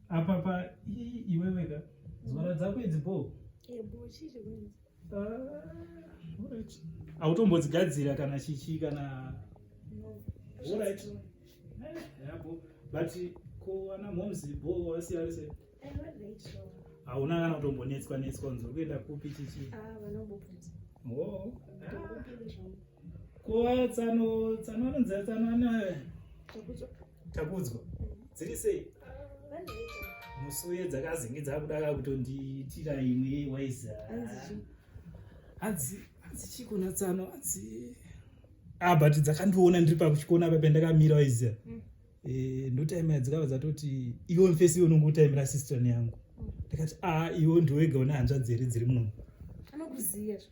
apa pa iweweka nzwara dzako idzi bo hautombodzigadzira ah, kana chichi kana but ko ana moms bo wasiyarise hauna kana kutombonetswa netswa unzi uri kuenda kupi chichi ah, oh, ah. ko tsano tsano anonzi tsano ana takudzwa dziri sei musi uye dzakazinge dzakudaka kutondiitira imwe waiza hanzi hanzi chikona tsano hanzi a ah, but dzakandiona ndiri pakuchikona apa pendakamira waiza mm. eh, ndotaimira dzikava dzatoti iwe mfesi iwe unonge utaimira sistran yangu mm. ndikati a ah, iwe ndiwega une hanzvadzi here dziri munomu anokuziva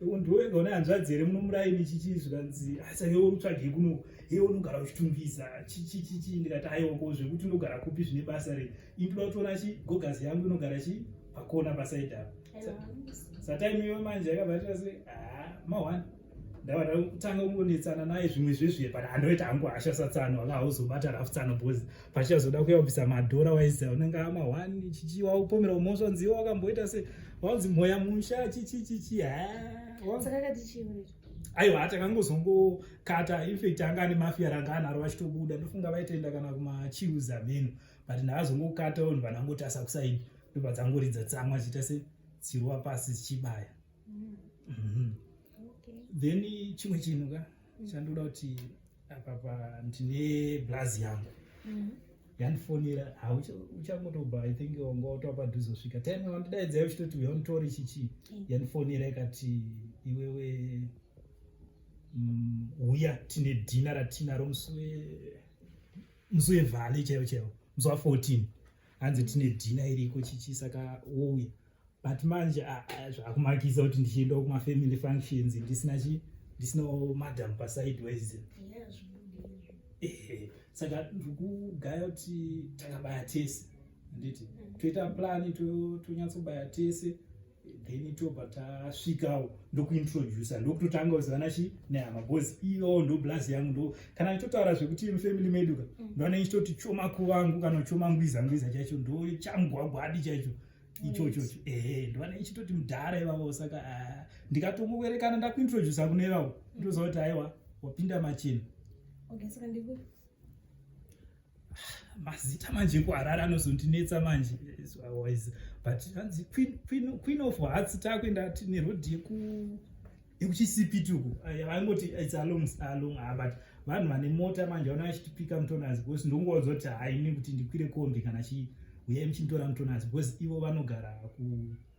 ndiwega une hanzvadzi here munomuraini chichii zvikanzi asa iwe utsvagei kuno iwe unogara uchitungwiza chichichichi ndikati aiwoko zvekuti unogara kupi zvine basa rei indoda kutoona chi gogazi yangu inogara chi pakona pasaidi apo satime iwe manje yakabatira se haa mahwani ndava ndakutanga kungonetsana naye zvimwe zvezviye but handoita hangu hasha satsano aka hauzobata rafu tsano bhozi pachichazoda kuyabvisa madhora waiziva unenge ama one chichi waupomera umoswa nziwo wakamboita se wanzi mhoya musha chichi chichi aiwa atakangozongokata infact anga ane mafia ranga anaro vachitobuda ndofunga vaitoenda kana kumachius ameno but ndaazongokata vanhu vanangoti asakusaini ndobva dzangoridza tsamwa chiita se dzirwa pasi dzichibaya mm. mm -hmm. okay. then chimwe chinhu ka Chandoda kuti apapa ndine blazi yangu mm. yandifonera hauchangotobva i think wanga watova padhuze kusvika time wandidaidzai uchitoti uya unditori chichi mm. yandifonera ikati iwewe mm, uya tine dhina ratinaro musi wevhale chaivo chaivo musi wa 14 hanzi tine dhina iriko chichi saka wouya but manje ah, ah, zvakumakisa kuti ndichienda kumafamily functions ndisina chi ndisina madam pasidewise eh, saka ndikugaya kuti takabaya tese handiti mm. toita plani tonyatsobaya tese then tobva tasvikawo ndokuintroducer ndokutotanga kuzivana chi nehama bcause iyo ndo blaz yangu ndo kana ichitotaura zvekuti mufamily meduka mm. ndoana ichitoti choma kuvangu kana choma ngwiza ngwiza chacho ndo changwagwadi chaicho ichocho ehe ndoana ichitoti mudhara ivavo saka ah, ndikatongowerekana ndakuintroducer kune ivavo ndoziva kuti aiwa wapinda machena okay, so mazita manje kuharare anozondinetsa manje otherwise but hanzi queen of hearts takuenda tine road yekuchisipituku vaingoti its along along ah, but vanhu vane mota manje vana vachitipika mutonazi because ndonguva dzoti haine kuti ndikwire kombi kana chii uyai muchinditora mutonazi because ivo vanogara ku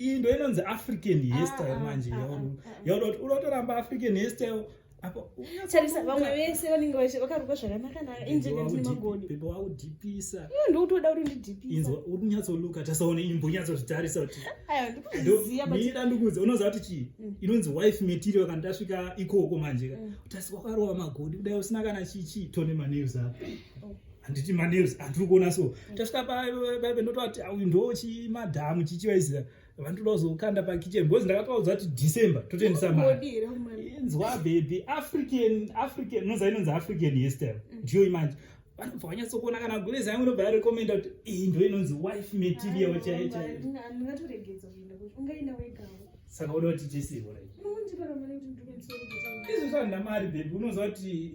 iyi ndo inonzi african hairstyle ah, ah, manje yauda ah, kuti unotoramba african hairstyle tarisa vamwe vese vanenge vakarukwa zvakanakanaka injenemagodopepo waudhipisa ndokutoda kuti ndidhipisa uri kunyatsoluka tasaone imbo unyatsozvitarisa kuti mira ndikuudza unoziva kuti chii mm. inonzi wife material kana tasvika ikoko manje mm. utasi wakarova magodi kudai usina kana chii chii tone manews apo oh. handiti manews andiri kuona so mm. tasvika paive ndotoa kuti auyu ndo chimadhamu chichivaizira vandoda kuzokanda pakitchen because ndakatouza kuti december totendisa mainzwa baby african african nonza inonzi african hestel mm. ndiyo imanje vanobva vanyatsokuona kana gurezi yangu inobva yarekomenda kuti iyi ndo inonzi wife material chaiyo chaiyo saka uda kuti tisirwa izvo zvanhu namari bebi unoziva kuti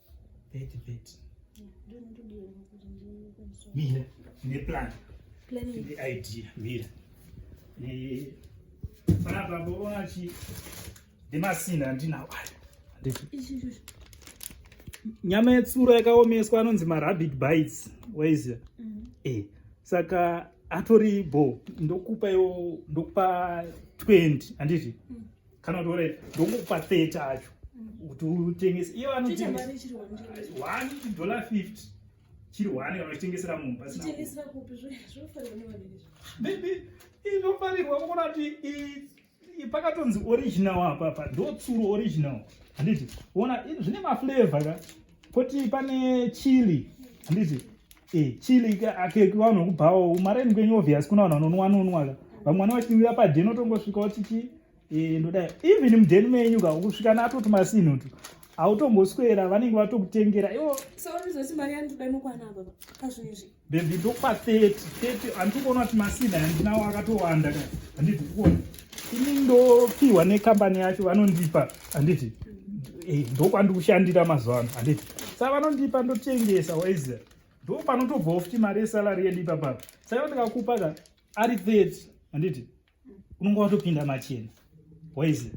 Peti peti. Mira, ne plan. Plan ne idea, mira. Ne fana babo wachi de masina ndina wayo. Nyama yetsura yakaomeswa anonzi ma rabbit bites. Where is it? Mm -hmm. Eh, saka atori bo ndokupa yo ndokupa 20 anditi? Mm -hmm. kana kuti ore ndokupa 30 acho kuti utengese iye vanotengesa 1 dollar 50 chiri one kana uchitengesera munhu pasinaizvofarirwa kuona kuti pakatonzi original apapa ndotsuro original handiti ona zvine maflavor ka koti pane chili handiti eh, chili keki vanhu vakubhawo mareni kwenyu obvious kuna vanhu vanonwa nonwa ka vamwe vane vachinwira padeni otongosvika otichi eh, ndodai even mudeni menyu ka ukusvika natoti masinhutu automboswera vanenge vatokutengera iwo so unozoti mari yandoda nokwana baba pazvinhu izvi Baby ndokupa 30 30 handiri kuona kuti masina handinawo akatowanda ka handiti kuona ini ndopiwa nekambani yacho vanondipa handiti eh, ndokwandikushandira mazuva ano handiti sa vanondipa ndotengesa waizer ndo panotobvawo futi mari yesalari yedu ipapapa saka ndikakupa ka ari 30 handiti unonga watopinda machena waizi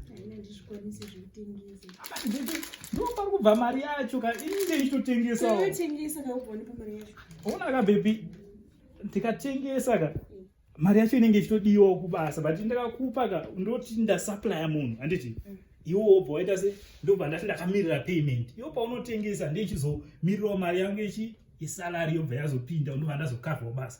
ndopari kubva mari yacho ka inge ichitotengesaoona ka bebi ndikatengesa ka mari yacho inenge ichitodiwa kubasa but ndakakupa ka ndoti ndasuplya munhu handiti mm. iwo wobva waita se ndobva ndati ndakamirira payment iwo paunotengesa ndeichizomirirawo mari yangu ichi isalari yobva yazopinda unova ndazokavhawo basa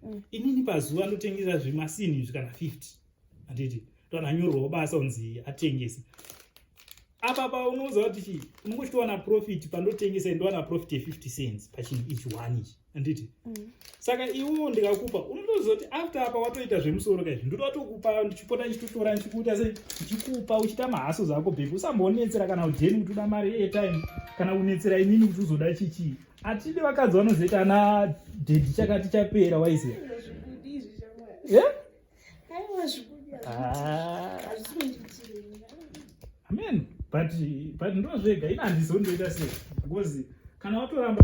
mm. inini pazuva ndotengesa zvimasini izvi kana 50 handiti ndoananyorwawo basa unzi atengese apa paunoudza kuti chii unenge uchitowana profit pandotengesa ndowana profit ye50 cents pachinhu ichi one ichi handiti mm. saka iwo ndikakupa unotoziva kuti after apa watoita zvemusoro kaizvi ndoda watokupa ndichipota ndichitotora ndichikuita se ndichikupa uchiita mahaso zako bhebhi usambonetsera kana ujeni kuti uda mari airtime kana unetsera inini kuti uzoda chichii Atidi vakadzi vanozoita ana dedi chakati chapera waiziva. Yeah? Ah. Amen. But but ndozvega ina handizondoita sei because kana watoramba